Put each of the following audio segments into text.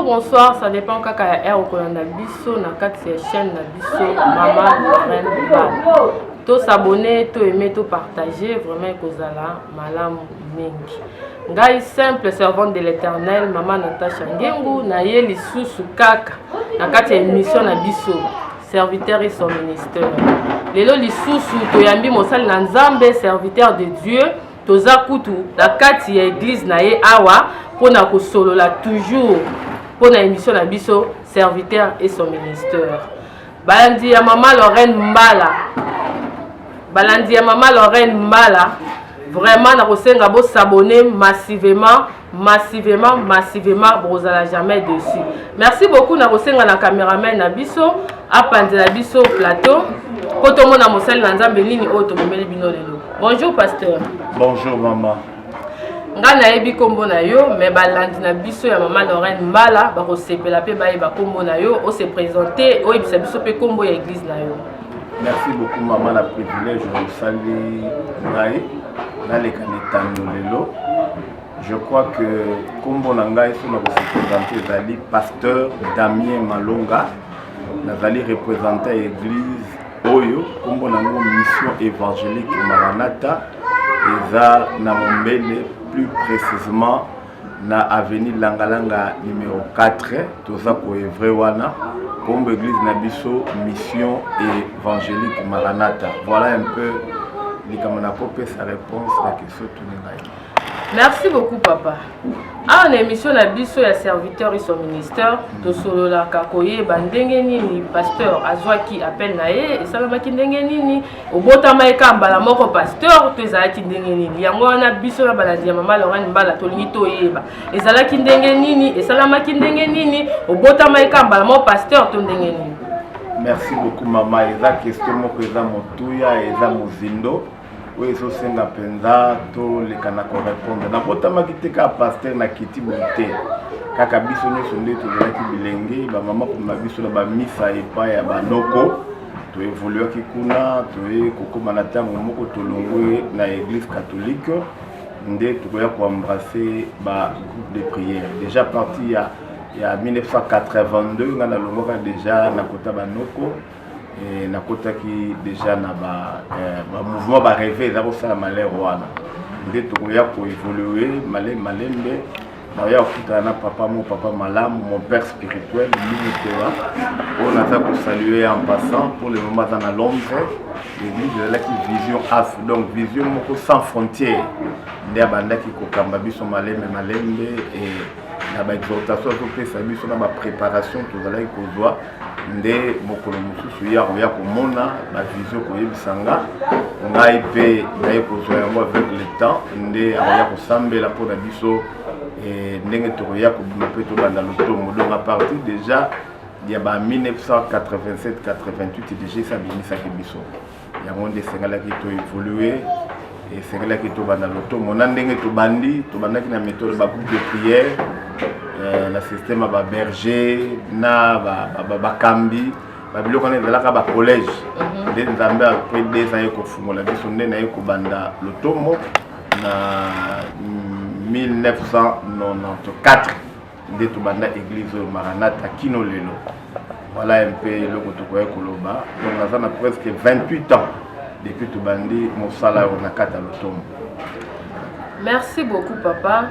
bonsoir ça dépend kaka ya heure okolanda biso na kati ya chaîne na biso mama lorraine bibal to s'abonner to aimer to partager vraiment ekozala malamu mingi ngai simple servante de l'éternel mama natacha ngengu naye lisusu kaka na kati ya émission na biso serviteur et son ministère lelo lisusu toyambi mosali na nzambe serviteur de dieu toza kutu na kati ya eglize na ye awa mpo na kosolola toujours mpo na émission na biso serviteur et son ministère Balandi ya mama Lorraine Mbala, balandi ya mama Lorraine Mbala, vraiment nakosenga bo s'abonner massivement massivement massivement bokozala jamais dessus merci beaucoup nakosenga na cameraman na biso apanzela biso plateau mpo tomona mosali na nzambe nini oyo tomemeli bino lelo bonjour pasteur bonjour mama ngai nayebi nkombo na yo me balandi na biso ya mama lorraine mbala bakosepela mpe bayeba nkombo na yo ose présente oyebisa biso mpe nkombo ya eglise na yo merci beaucoup mama na privilège osali ngai naleka na etando lelo je crois que nkombo na ngai so nakosepresente ezali pasteur damien malonga nazali représente ya église oyo nkombo na yango mission évangélique maranata eza na mombele plus précisement na avenue langalanga numero 4 toza koevre wana nkombo église na biso mission évangélique maranata voilà un peu likambo nakopesa réponse na question tuni ngai Merci beaucoup papa. Awa na emission na biso ya serviteur iso ministère tosololaka koyeba ndenge nini pasteur azwaki appel na ye esalamaki ndenge nini obotamaki kaka mbala moko pasteur to ezalaki ndenge nini yango wana biso na balandi ya mama lorane mbala tolingi toyeba ezalaki ndenge nini esalamaki ndenge nini obotamaki kaka mbala moko pasteur to ndenge nini merci beaucoup mama eza question moko eza motuya eza mozindo oyo ezosenga mpenza toleka na korepondre nabotamaki te kaka paster na kiti boye te kaka biso nyonso nde tozalaki bilenge bamama komema biso na bamisa epai ya banoko toevoluaki kuna toye kokóma na ntango moko tolongwe na église catholique nde tokoya koembrasse ba groupe de prière déjà parti ya ya 1982 ngai nalongwaka déjà na kota banoko Eh, nakotaki deja na eh, bamouvement bareve eza kosala malere wana nde tokoya koevolue male malembe naoya kokutana na papa mo papa malamu mon père spirituel mimitola oyo naza kosalue en passant pour le moment aza na londre eglise ezalaki vision af donc vision moko sans frontière nde abandaki kokamba biso malembe malembe na baexhortation azopesa biso na bapreparation tozalaki kozwa nde mokolo mosusu ye akoya komona na visio koyebisa nga ngai mpe naye kozwa yango avec le temps nde akoya kosambela mpo na biso eh, ndenge tokoya kobima mpe tobanda lotomo donc à partir déjà ya ba 1987-88 deja esabimisaki biso yango nde esengelaki to evolue esengelaki tobanda lotomo na ndenge tobandi tobandaki na méthode bagroupe de prière euh, na système ya baberger na bakambi babiloko wana ezalaka bacollège mhm. nde nzambe apres des ans ye kofungola biso nde naye kobanda lotomo na 1994 nde tobanda eglise oyo maranata kino lelo voilà un peu eloko tokoki koloba donc naza na presque 28 ans depuis tobandi mosala oyo na kati ya lotomo merci beaucoup papa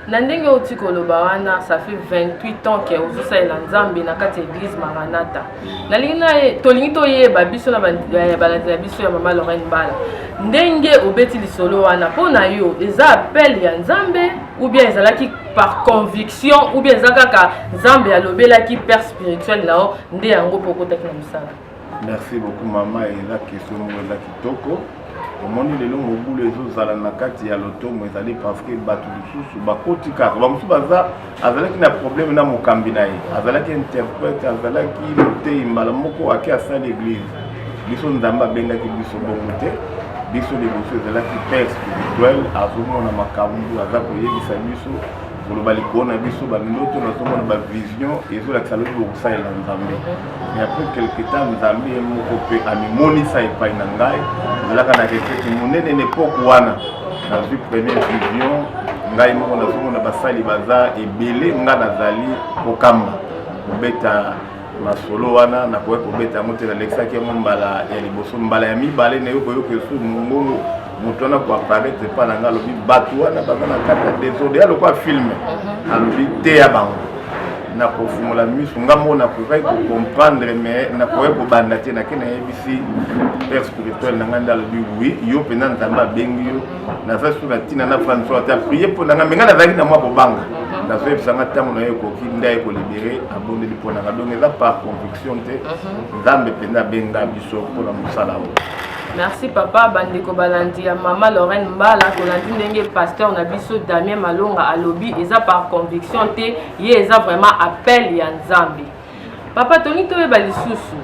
na ndenge outi koloba wana ça fait 28 ans ke ozosalela nzambe na kati ya église maranata nalingi na tolingi toyeba biso na balandi na biso ya mama lorraine bala ndenge obeti lisolo wana mpo na yo eza appel ya nzambe ou bien ezalaki par conviction ou bien eza kaka nzambe alobelaki père spirituel na yo nde yango mpo okotaki na mosala merci beaucoup mama eza question moko eza kitoko omoni lelo mobulu ezozala na kati ya lotomo ezali parceke bato lisusu bakoti kaka bamosusu baza azalaki na probleme na mokambi na ye azalaki interprète azalaki moteyi mbala moko ake asali eglise biso nzambe abengaki biso bongo te biso liboso ezalaki père spirituel azomona makambo aza koyebisa biso koloba likolo na biso bandoto nazomona bavision ezolakisa lobi bokosalela nzambe mais après quelque temps nzambe ye moko mpe amimonisa epai na ngai ezalaka na retraite monene na epoke wana nazwi première vision ngai moko nazomona basali baza ebele ngai nazali kokamba kobeta masolo wana nakoki kobeta yango te nalekisaki yango mbala ya liboso mbala ya mibale nayo koyoka esu mongongo moto wana koaparaitre epa na ngai alobi bato wana baza na kati ya desordre ya lokola filme mhm. alobi teya bango nakofungola miso nga moko nakokaki kocomprendre mais nakoki kobanda te nake nayebisi père spirituel na ngai nde alobi wi yo mpenza nzambe abengi yo nazalaki soki na ntina na fani soki ata prie mpo na ngai me ngai nazalaki na mwa kobanga mhm. nazoyebisa ngai ntango na ye ekoki nde aye kolibere abondeli mpo na ngai donc eza par conviction te mhm. nzambe mpenza abenga biso mpo na mosala oyo merci papa bandeko balandi ya mama lorraine mbala tolandi ndenge pasteur na biso damien malonga alobi eza par conviction te ye eza vraiment appel ya nzambe Papa Tony toyeba lisusu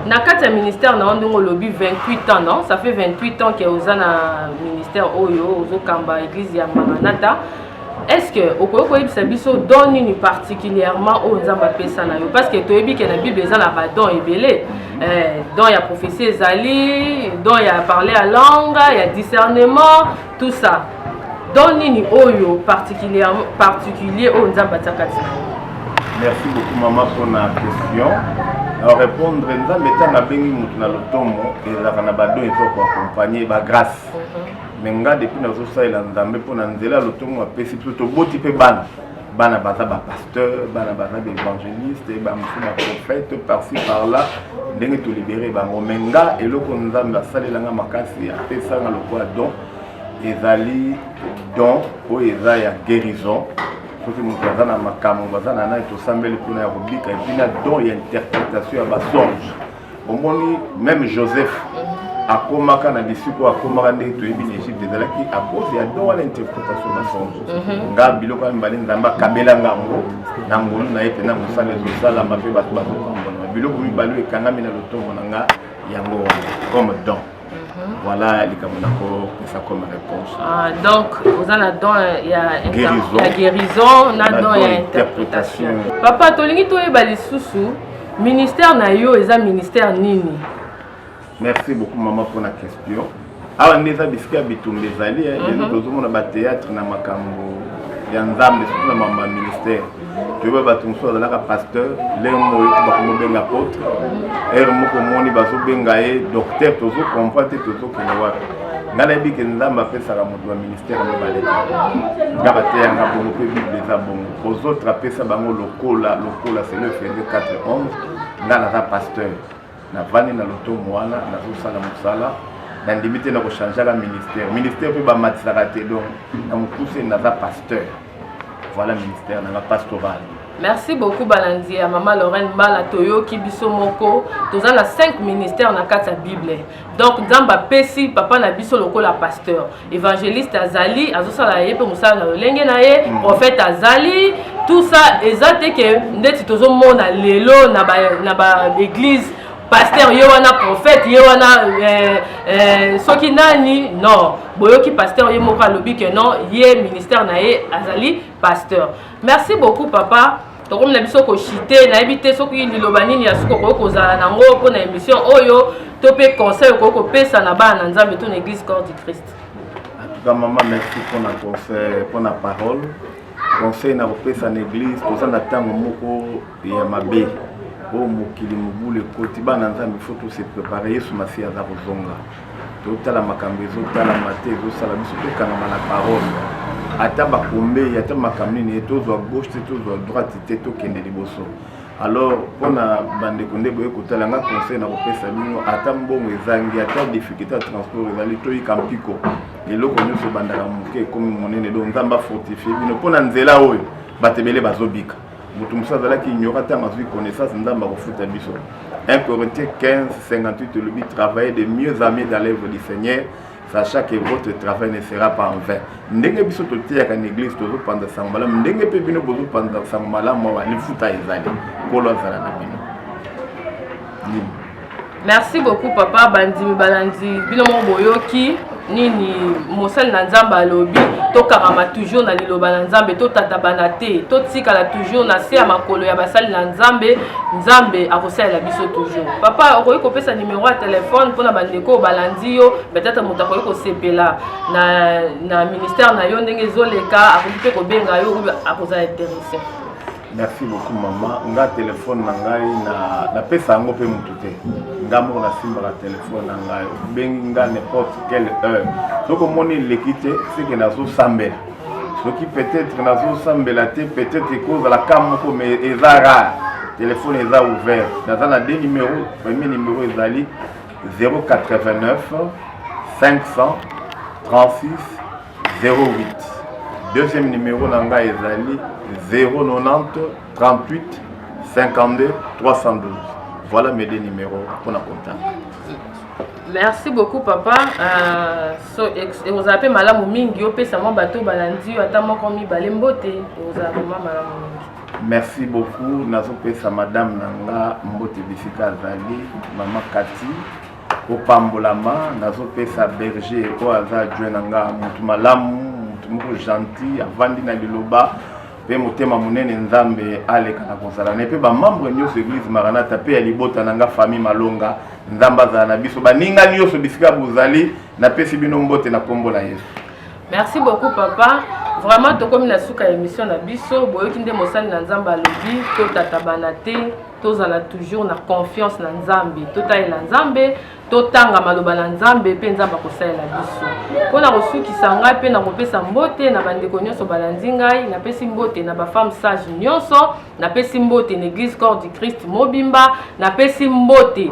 na kati ya ministère na yo ndenge olobi 28 ans non ça fait 28 ans ke oza na ministère oyo ozokamba église ya maranata est ce que okoki koyebisa biso don nini particulièrement oyo nzambe apesa na yo parce que toyebi ke na bible eza na badon ebele eh, don ya prophétie ezali don ya parler ya langue ya discernement tout ça don nini oyo particulier particulier oyo nzambe atia kati na yo merci beaucoup mama mpona question na répondre nzambe ntango abengi moto na lotomo ezalaka na badon ezo koaccompagne bagrace mhm. mais nga depuis nazosalela nzambe mpo na nzela ya lotomo apesi biso toboti mpe bana bana baza bapasteur bana baza baevangeliste bamosusu baprofete parci par là ndenge tolibere bango me nga eloko nzambe asalela nga makasi apesanga lokola don ezali don oyo eza ya guérison soki moto aza na makambo baza na nani tosambeli mpona ya kobika epi na don ya interpretation ya basonge bomoni meme joseph akomaka na bisiko akomaka nde toyebi na egypte ezalaki à cause ya don wana interprétation na sonzo mhm. nga biloko ya mibale nzambe akabela ngango na ngolu na ye mpena mosala ezosalama mpe bato bazopambolama biloko mibale oyo ekangami na lotomo na nga yango wana comme don voilà likambo nakopesa comme réponse ah, donc oza na don ya guérison na don ya interprétation papa tolingi toyeba lisusu ministère na yo eza ministère nini merci beaucoup mama mpona question awa nde eza bisika ya bitumba ezali lelo eh. mhm. tozomona bathéâtre na makambo ya nzambe surtout na mambo ya ministère toyeba bato mosusu azalaka pasteur lere moko oyoki bakomobenga apotre ere moko omoni bazobenga ye docteur tozo comprend te tozokende wapi nga nayebi ke nzambe apesaka moto ya ministère mibale nga bateyanga bongo mpe bible eza bongo ozotre apesa bango lokola lokola selo efeze 4 11 nga naza pasteur navandi na lotomo wana nazosala mosala na ndimi te na kochangeaka ministère ministère mpe bamatisaka te donc na mokuse naza pasteur voilà ministère nanga pastoral merci beaucoup balandi ya mama lorraine mbala toyoki biso moko toza na 5 ministère na kati ya bible donc nzambe apesi papa na biso lokola pasteur evangeliste azali azosala ye mpe mosala na lolenge na ye mm. prophète azali tout ça eza te ke ndeti tozomona lelo na baeglise ba paster ye wana prophète ye wana euh, euh, soki nani non boyoki paster ye moko alobi ke non ye ministère na ye azali pasteur merci beaucoup papa tokomi na biso koshite nayebi te soki liloba nini ya suka okoki kozala na yango mpo na émission oyo to mpe conseil okoki kopesa na bana na nzambe to na église corps du christ ga mama merci mpo na conseil mpo na parole conseil na kopesa na église toza na ntango moko ya mabe oyo mokili mobulu ekoti bana nzambe fo tose prépare yesu masiya aza kozonga totala makambo ezotalama te ezosala biso tokangama na parole ata bakombe ata makambo nini tozwa gauche te tozwa droite te tokende liboso alors mpona bandeko nde boye kotala nga conseil na kopesa bino ata mbongo ezangi ata difficulté ya transport ezali toyika mpiko eloko nyonso ebandaka moke ekomi monene donc nzambe afortifie bino mpo na nzela oyo bato ebele bazobika moto mosusu azalaki ignora ntango azwi connaissance nzambe akofuta biso 1 corinthiens 15 58 olobi travailler de mieux en mieux dans l'œuvre du seigneur sachant que votre travail ne sera pas en vain ndenge biso toteyaka na église tozopanza sango malamu ndenge mpe bino bozopanza sango malamu awa lifuta ezali nkolo azala na bino merci beaucoup papa bandimi balandi bino moko boyoki nini mosali na nzambe alobi tokangama toujours na liloba na nzambe totatabana te totikala toujours na se ya makolo ya basali na nzambe nzambe akosalela biso toujours papa okoki kopesa nimero ya telefone mpona bandeko oyo balandi yo betata moto akoki kosepela na, na ministère na yo ndenge ezoleka akoki mpe kobenga yo akozala interesse merci beaucoup mama nga telefone na ngai napesa yango mpe motu te nga moko nasimbaka telefone na ngai obengi nga n'importe quelle heure soki omoni eleki te seke nazosambela soki peut-être nazosambela te peut-être ekozala ka moko mais eza rare telefone eza ouvert naza na deux numéro premier numéro ezali 089 500 36 08 deuxième numéro na ngai ezali 090 38 52 312 voilà mes deux numéros mpona contact merci beaucoup papa euh, so, ekozala mpe malamu mingi opesa mwa bato balandi yo ata moko mibale mbote ekozala vraimen malamu mingi merci beaucoup nazopesa madame na nga mbote bisika azali mama kati kopambolama nazopesa berger oyo aza adjoint na nga motu malamu motu moko gentil avandi na liloba mpe motema monene nzambe aleka na kozala na ye mpe bamembre nyonso eglise maranata mpe ya libota na nga famille malonga nzambe azala na biso baninga nyonso bisika bozali napesi bino mbote na nkombo na yesu merci beaucoup papa vraiment tokomi na suka ya émission na biso boyoki nde mosali na nzambe alobi totatabana te tozala toujours na confiance na nzambe totalela nzambe totanga maloba na nzambe mpe nzambe akosalela biso mpo na kosukisa ngai mpe na kopesa mbote na bandeko nyonso balandi ngai napesi mbote na bafemme sage nyonso napesi mbote na eglise corps du christ mobimba napesi mbote